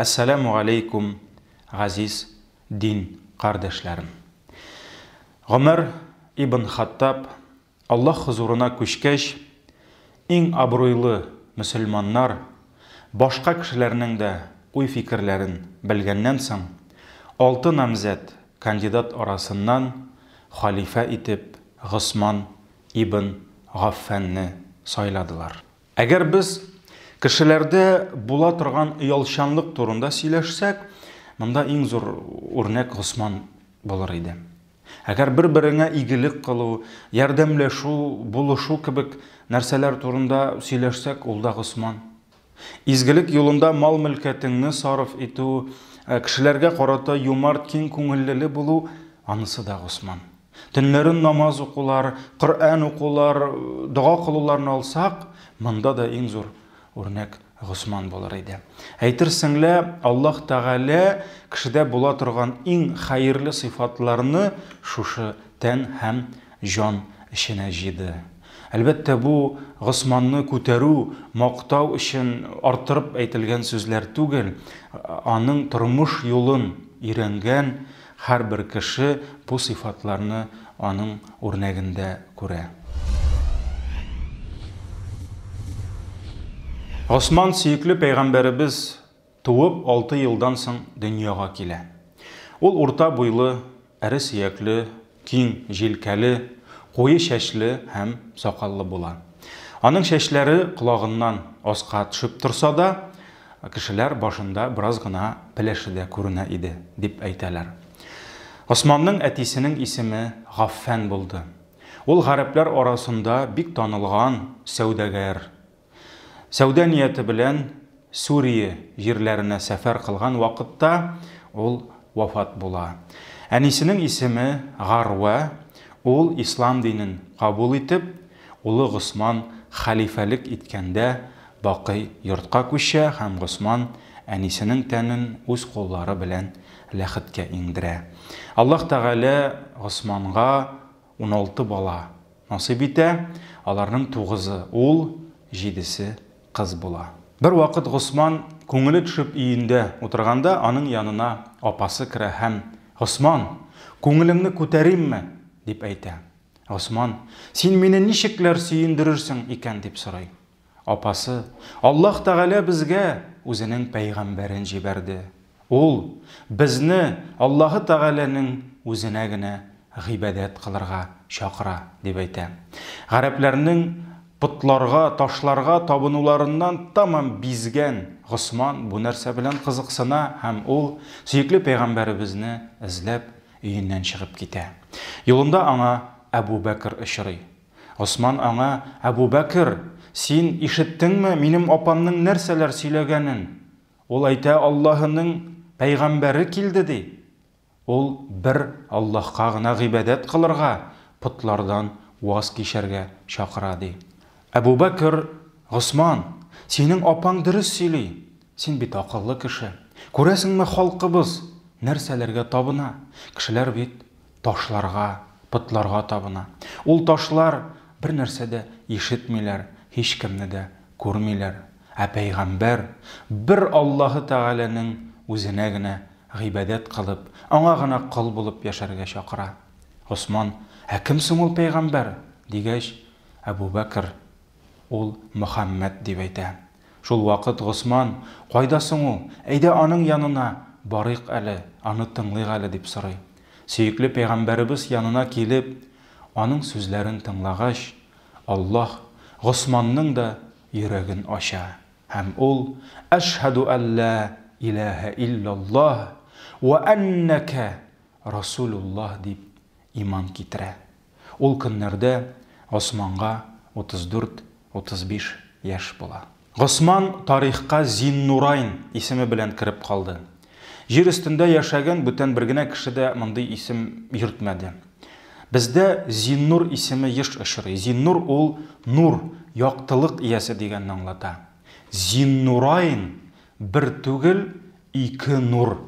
Әссәләмү галәйкүм, газиз дин кардәшләрем! Гомәр ибн Хаттаб Аллаһ хозурына күчкәч, иң абруйлы мөселманнар, башка кешеләрнең дә уй-фикерләрен белгәннән соң, алты намзәт, кандидат арасыннан халифә итеп Госман ибн Гаффанны сайладылар. Әгәр без кешеләрдә була торган оялчанлык турында сөйләшсәк, монда иң зур үрнәк Госман булыр иде. Әгәр бер-береңә игелек кылу, ярдәмләшү, булышу кебек нәрсәләр турында сөйләшсәк, ул да Госман. Изгелек юлында мал-мөлкәтеңне сарыф итү, кешеләргә карата юмарт, киң күңеллеле булу, анысы да Госман. Төннәрен намаз укулар, Коръән укулар, дога кылуларны алсак, монда да иң зур үрнәк Госман булыр иде. Әйтерсең лә, Аллаһ Тәгалә кешедә була торган иң хәерле сыйфатларны шушы тән һәм җан эченә җыйды. Әлбәттә, бу Госманны күтәрү, мактау өчен арттырып әйтелгән сүзләр түгел, аның тормыш юлын өйрәнгән, Һәрбер кеше бу сыйфатларны аның үрнәгендә күрә. Госман сөекле пәйгамбәребез туып алты елдан соң дөньяга килә. Ул урта буйлы, эре сөякле, киң җилкәле, куе чәчле һәм сакаллы була. Аның чәчләре колагыннан аска төшеп торса да, Кешеләр башында бераз гына пеләше дә күренә иде, дип әйтәләр. Госманның әтисенең исеме Гаффән булды. Ул гарәпләр арасында бик танылган сәүдәгәр. Сәүдә нияте белән Сүрие җирләренә сәфәр кылган вакытта ул вафат була. Әнисенең исеме Гарвә, ул ислам динен кабул итеп, улы Госман хәлифәлек иткәндә Бакый йортка күчә һәм Госман әнисенең тәнен үз куллары белән ләхеткә иңдерә. Аллаһ Тәгалә Госманга уналты бала насыйп итә, аларның тугызы, ул, җидесе кыз була. Бервакыт Госман күңеле төшеп өендә утырганда, аның янына апасы керә һәм, Госман, күңелеңне күтәримме? дип әйтә. Госман, Син мине ничекләр сөендерерсең икән? дип сорый. Апасы, Аллаһ Тәгалә безгә Үзенең пәйгамбәрен җибәрде. Ул, безне Аллаһы Тәгаләнең Үзенә генә гыйбадәт кылырга чакыра, дип әйтә. Гарәпләрнең потларга, ташларга табынуларыннан тәмам бизгән Госман бу нәрсә белән кызыксына һәм ул, сөекле пәйгамбәребезне эзләп, өеннән чыгып китә. Юлында аңа Әбү Бәкер очрый. Госман аңа, Әбүбәкер, син ишеттеңме минем апамның нәрсәләр сөйләгәнен? Ул әйтә, Аллаһының пәйгамбәре килде, ди. Ул бер Аллаһка гына гыйбадәт кылырга, потлардан ваз кичәргә чакыра, ди. Әбүбәкер, Госман, синең апаң дөрес сөйли, син бит акыллы кеше. Күрәсеңме, халкыбыз нәрсәләргә табына? Кешеләр бит Ташларга, потларга табына. Ул ташлар бер нәрсә дә ишетмиләр, һичкемне дә күрмиләр. Ә пәйгамбәр бер Аллаһы Тәгаләнең үзенә генә гыйбадәт кылып, аңа гына кол булып яшәргә чакыра. Госман, Ә кем соң ул пәйгамбәр? дигәч, Әбүбәкер, Ул Мөхәммәд, дип әйтә. Шул вакыт Госман, Кайда соң ул? Әйдә аның янына барыйк әле, аны тыңлыйк әле, дип сорый. Сөекле пәйгамбәребез янына килеп, аның сүзләрен тыңлагач, Аллаһ Госманның да йөрәген ача һәм ул, Әшһәдү ан лә иләһә илляллаһ вә әннәкә расулуллаһ, дип иман китерә. Ул көннәрдә Госманга 34-35 яшь була. Госман тарихка Зиннурайн исеме белән кереп калды. Җир өстендә яшәгән бүтән бер генә кеше дә мондый исем йөртмәде. Бездә Зиннур исеме еш очрый. Зиннур ул нур, яктылык иясе дигәнне аңлата. Зиннурайн, бер түгел, ике нур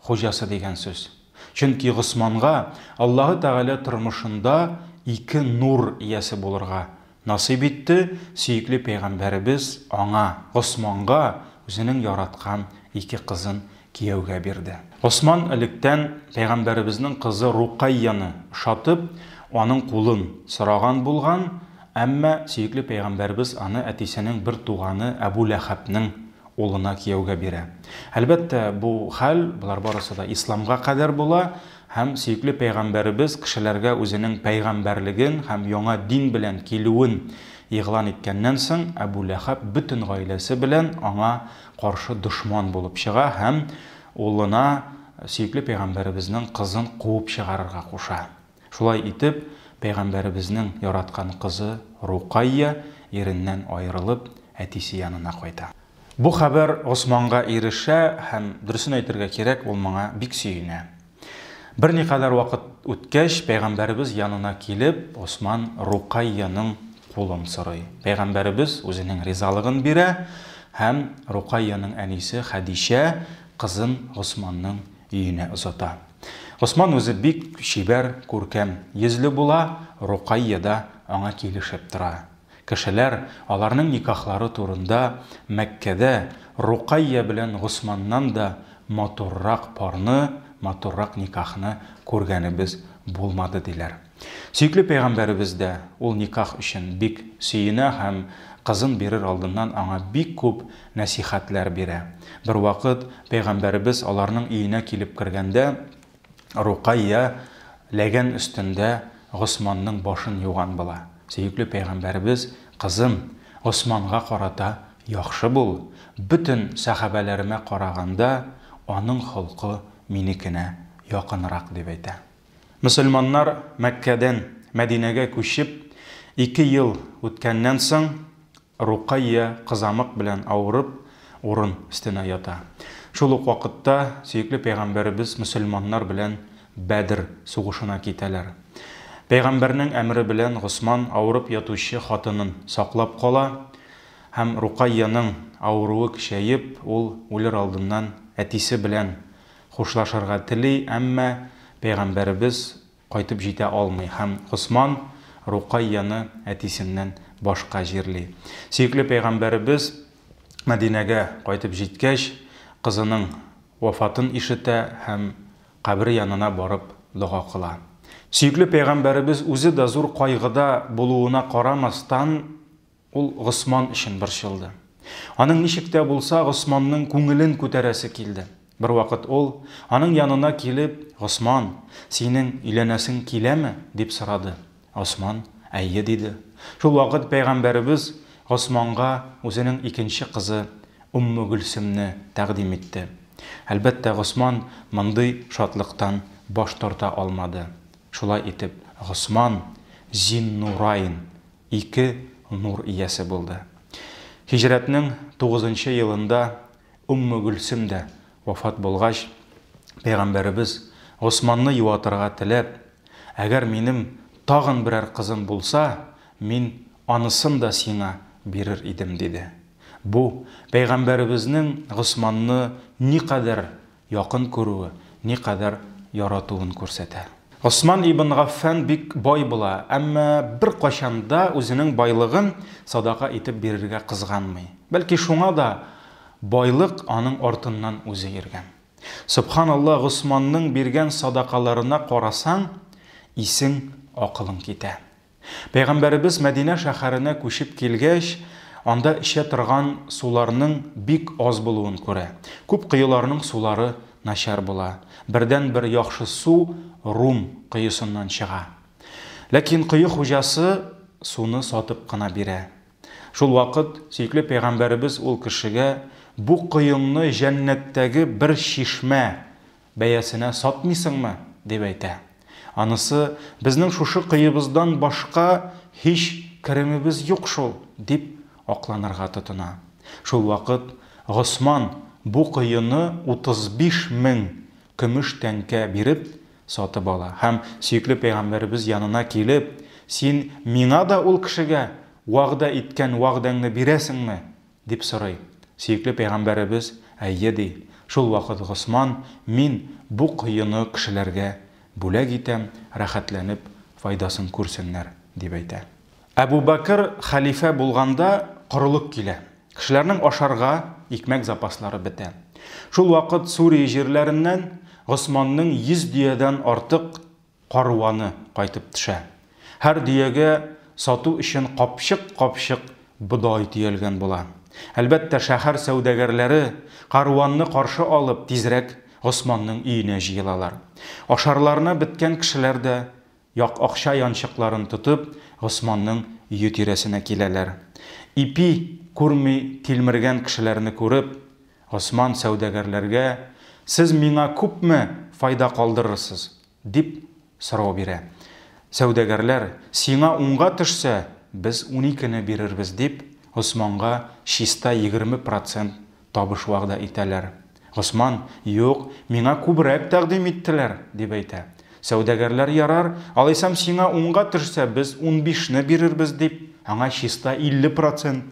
Хуҗасы дигән сүз. Чөнки Госманга Аллаһы Тәгалә тормышында ике нур иясе булырга насыйп итте, сөекле пәйгамбәребез аңа, Госманга, үзенең яраткан ике кызын кияүгә бирде. Госман электән пәйгамбәребезнең кызы Рукайяны ошатып, аның кулын сораган булган, әмма сөекле пәйгамбәребез аны әтисенең бер туганы Әбү Ләхәбнең улына кияүгә бирә. Әлбәттә, бу хәл, болар барысы да исламга кадәр була һәм сөекле пәйгамбәребез кешеләргә үзенең пәйгамбәрлеген һәм яңа дин белән килүен игълан иткәннән соң, Әбү Ләхәб бөтен гаиләсе белән аңа каршы дошман булып чыга һәм улына сөекле пәйгамбәребезнең кызын куып чыгарырга куша. Шулай итеп, пәйгамбәребезнең яраткан кызы Рукайя иреннән аерылып, әтисе янына кайта. Бу хәбәр Госманга ирешә һәм, дөресен әйтергә кирәк, ул моңа бик сөенә. Берникадәр вакыт үткәч, пәйгамбәребез янына килеп, Госман Рукайяның кулын сорый. Пәйгамбәребез үзенең ризалыгын бирә һәм Рукайяның әнисе Хәдичә кызын Госманның Өенә озата. Госман үзе бик чибәр, күркәм йөзле була, Рокайя да аңа килешеп тора. Кешеләр аларның никахлары турында Мәккәдә Рокайя белән Госманнан да матуррак парны, матуррак никахны күргәнебез булмады, диләр. Сөекле пәйгамбәребез дә ул никах өчен бик сөенә һәм кызын бирер алдыннан аңа бик күп нәсыйхәтләр бирә. Бервакыт пәйгамбәребез аларның өенә килеп кергәндә, Рукайя ләгән өстендә Госманның башын юган була. Сөекле пәйгамбәребез, Кызым, Госманга карата яхшы бул, бөтен сәхабәләремә караганда, аның холкы минекенә якынрак, дип әйтә. Мөселманнар Мәккәдән Мәдинәгә күчеп ике ел үткәннән соң, Рукайя кызамык белән авырып, урын өстенә ята. Шул ук вакытта сөекле пәйгамбәребез мөселманнар белән Бәдер сугышына китәләр. Пәйгамбәрнең әмере белән Госман авырып ятучы хатынын саклап кала һәм Рукайяның авыруы көчәеп, ул үлер алдыннан әтисе белән Хушлашырга тели, әмма пәйгамбәребез кайтып җитә алмый һәм Госман Рукайяны әтисеннән башка җирли. Сөекле пәйгамбәребез Мәдинәгә кайтып җиткәч, кызының вафатын ишетә һәм кабере янына барып дога кыла. Сөекле пәйгамбәребез үзе дә зур кайгыда булуына карамастан, Ул Госман өчен борчылды. Аның ничек тә булса Госманның күңелен күтәрәсе килде. Бервакыт ул, аның янына килеп, Госман, синең өйләнәсең киләме? дип сорады. Госман, Әйе, диде. Шул вакыт пәйгамбәребез Госманга үзенең икенче кызы Өммегөлсемне тәкъдим итте. Әлбәттә, Госман мондый шатлыктан баш тарта алмады. Шулай итеп, Госман Зиннураин ике нур иясе булды. Һиҗрәтнең тугызынчы елында Өмме Гөлсем дә вафат булгач, пәйгамбәребез, Госманны юатырга теләп, Әгәр минем тагын берәр кызым булса, мин анысын да сиңа бирер идем, диде. Бу, пәйгамбәребезнең Госманны никадәр якын күрүе, никадәр яратуын күрсәтә. Госман ибн Гаффан бик бай була, әмма беркайчан да үзенең байлыгын садака итеп бирергә кызганмый. Бәлки шуңа да байлык аның артыннан үзе йөргән. Сөбханалла, Госманның биргән садакаларына карасаң, исең, акылың китә. Пәйгамбәребез Мәдинә шәһәренә күчеп килгәч, анда эчә торган суларның бик аз булуын күрә. Күп коеларның сулары начар була. Бердәнбер яхшы су Рум коесыннан чыга. Ләкин кое хуҗасы суны сатып кына бирә. Шулвакыт сөекле пәйгамбәребез ул кешегә, Бу коеңны җәннәттәге бер чишмә Бәясенә сатмыйсыңмы? дип әйтә. Анысы, Безнең шушы кыебыздан башка һич керемебез юк шул, дип акланырга тотына. Шулвакыт Госман бу кыены 35 мең көмеш тәңкә биреп сатып ала һәм, сөекле пәйгамбәребез янына килеп, Син миңа да ул кешегә вәгъдә иткән вәгъдәңне бирәсеңме? Дип сорый. Сөекле пәйгамбәребез, Әйе, ди. Шул вакыт Госман, Мин бу коены кешеләргә бүләк итәм, рәхәтләнеп файдасын күрсеннәр, дип әйтә. Әбу Бәкер хәлифә булганда корылык килә. Кешеләрнең ашарга икмәк запаслары бетә. Шул вакыт Сурия җирләреннән Госманның йөз дөядән артык Каруаны кайтып тшә. Һәр дөягә сату өчен капчык-капчык бодай төялгән була. Әлбәттә, шәһәр сәүдәгәрләре, каруанны каршы алып, тизрәк Госманның өенә җыелалар. Ашарларына беткән кешеләр дә, як акча янчыкларын тотып, Госманның өе тирәсенә киләләр. Ипи күрми тилмергән кешеләрне күреп. Госман сәүдәгәрләргә, Сез миңа күпме файда калдырырсыз? дип сорау бирә. Сәүдәгәрләр, Сиңа унга төшсә, без уникене бирербез, дип, Госманга чиста егерме процент табыш вәгъдә итәләр. Госман, Юк, миңа күбрәк тәкъдим иттеләр, дип әйтә. Сәүдәгәрләр, Ярар, алайсам сиңа унга төшсә, без унбишне бирербез, дип, аңа чиста илле процент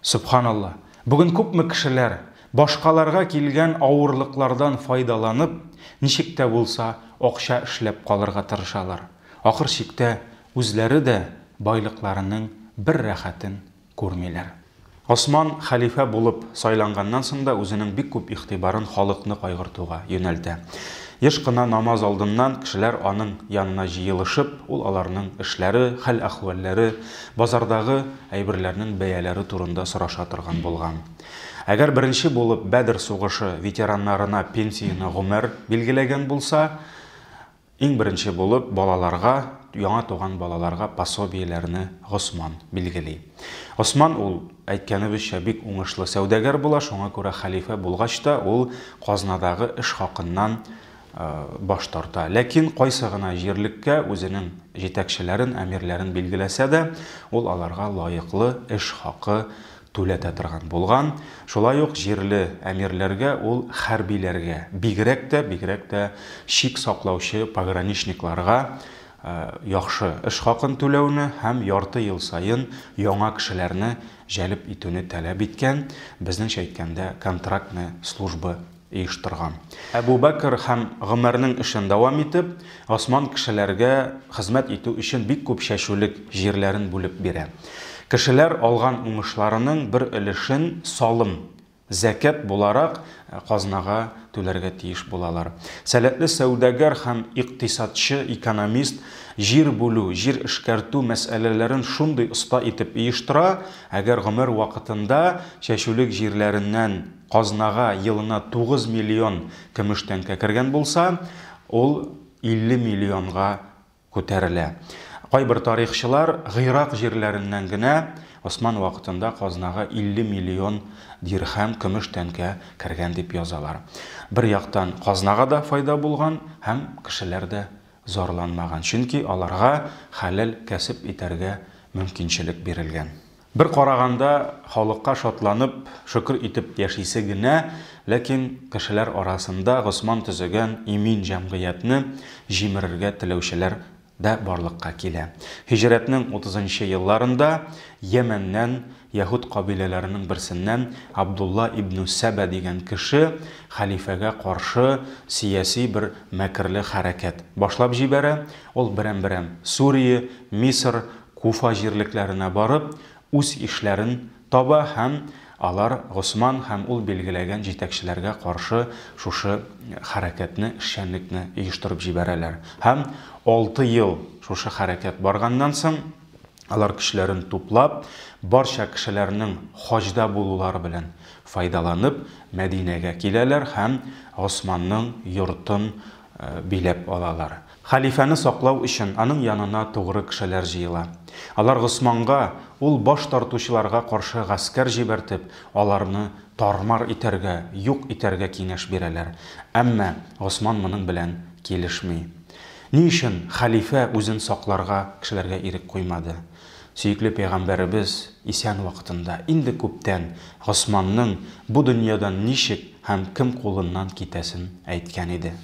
Сөбханалла, бүген күпме кешеләр, башкаларга килгән авырлыклардан файдаланып, ничек тә булса акча эшләп калырга тырышалар, ахыр чиктә үзләре дә байлыкларының бер рәхәтен күрмиләр. Госман хәлифә булып сайланганнан соң да үзенең бик күп игътибарын халыкны кайгыртуга юнәлтә. Еш кына намаз алдыннан кешеләр аның янына җыелышып, ул аларның эшләре, хәл-әхвәлләре, базардагы, әйберләрнең бәяләре турында сораша торган булган. Әгәр беренче булып Бәдер сугышы ветераннарына пенсияне гомер билгеләгән булса, иң беренче булып балаларга, яңа туган балаларга пособиеләрне Госман билгели. Госман ул, әйткәнебезчә, бик уңышлы сәүдәгәр була, шуңа күрә хәлифә булгач та ул казнадагы эш хакыннан баш тарта. Ләкин кайсы гына җирлеккә үзенең җитәкчеләрен, әмирләрен билгеләсә дә, ул аларга лаеклы эш хакы түләтә торган булган. Шулай ук җирле әмирләргә ул хәрбиләргә, бигрәк тә, бигрәк тә чик саклаучы пограничникларга яхшы эш хакын түләүне һәм ярты ел саен яңа кешеләрне җәлеп итүне таләп иткән, безнеңчә әйткәндә, контрактная служба оештырган. Әбу Бәкер һәм Гомәрнең эшен дәвам итеп, Госман кешеләргә хезмәт итү өчен бик күп чәчүлек җирләрен бүлеп бирә. Кешеләр алган уңышларының бер өлешен салым, зәкят, буларак казнага түләргә тиеш булалар. Сәләтле сәүдәгәр һәм икътисадчы, экономист җир бүлү, җир эшкәртү мәсьәләләрен шундый оста итеп оештыра, әгәр Гомәр вакытында чәчүлек җирләреннән, Казнага елына 9 миллион көмеш тәңкә кергән булса, ул 50 миллионга күтәрелә. Кайбер тарихчылар Гыйрак җирләреннән генә Госман вакытында казнага 50 миллион дирхәм көмеш тәңкә кергән дип язалар. Бер яктан казнага да файда булган һәм кешеләр дә зарланмаган, чөнки аларга хәләл кәсеп итәргә мөмкинчелек бирелгән. Бер караганда, халыкка шатланып, шөкер итеп яшисе генә, ләкин кешеләр арасында Госман төзегән имин җәмгыятьне җимерергә теләүчеләр дә барлыкка килә. Һиҗрәтнең утызынчы елларында Йәмәннән, яһүд кабиләләренең берсеннән Абдулла ибн Сәбә дигән кеше хәлифәгә каршы сәяси бер мәкерле хәрәкәт башлап җибәрә, ул берәм-берәм Сүрия, Мисыр, Куфа җирлекләренә барып, үз ишләрен таба һәм алар Госман һәм ул билгеләгән җитәкчеләргә каршы шушы хәрәкәтне, эшчәнлекне оештырып җибәрәләр. Һәм алты ел шушы хәрәкәт барганнан соң, алар көчләрен туплап, барча кешеләрнең хаҗда булулары белән файдаланып, Мәдинәгә киләләр һәм Госманның йортын биләп алалар. Хәлифәне саклау өчен аның янына тугры кешеләр җыела. Алар Госманга, ул баш тартучыларга каршы гаскәр җибәртеп, аларны тар-мар итәргә, юк итәргә киңәш бирәләр. Әмма Госман моның белән килешми. Ни өчен хәлифә үзен сакларга кешеләргә ирек куймады? Сөекле пәйгамбәребез исән вакытында, инде күптән, Госманның бу дөньядан ничек һәм кем кулыннан китәсен әйткән иде.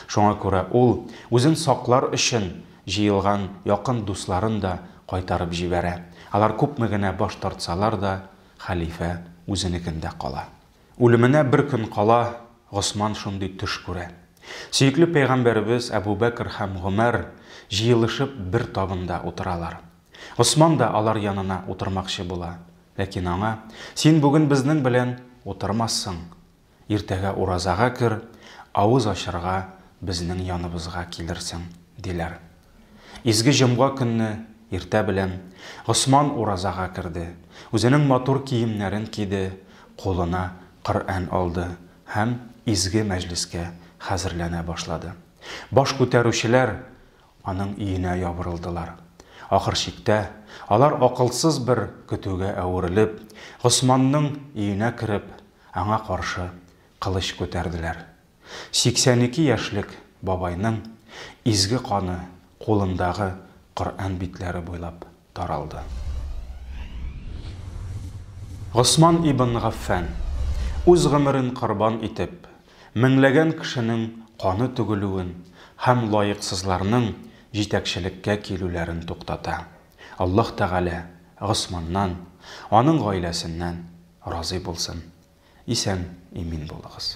Шуңа күрә ул, үзен саклар өчен, җыелган якын дусларын да кайтарып җибәрә. Алар күпме генә баш тартсалар да, хәлифә үзенекендә кала. Үлеменә бер көн кала Госман шундый төш күрә. Сөекле пәйгамбәребез Әбү Бәкер һәм Гомәр җыелышып бер табында утыралар. Госман да алар янына утырмакчы була, ләкин аңа, Син бүген безнең белән утырмассың, Иртәгә уразага кер, авыз ачарга безнең яныбызга килерсең, диләр. Изге җомга көнне иртә белән Госман уразага керде, үзенең матур киемнәрен киде, кулына Коръән алды һәм изге мәҗлескә хәзерләнә башлады. Баш күтәрүчеләр аның өенә ябырылдылар. Ахыр чиктә, алар акылсыз бер көтүгә әверелеп, Госманның өенә кереп, Аңа каршы кылыч күтәрделәр. 82 яшьлек бабайның изге каны кулындагы Коръән битләре буйлап таралды. Госман ибн Гаффән, үз гомерен корбан итеп, меңләгән кешенең каны түгелүен һәм лаексызларның җитәкчелеккә килүләрен туктата. Аллаһ Тәгалә Госманнан, аның гаиләсеннән Разый булсын. Исән, имин булыгыз.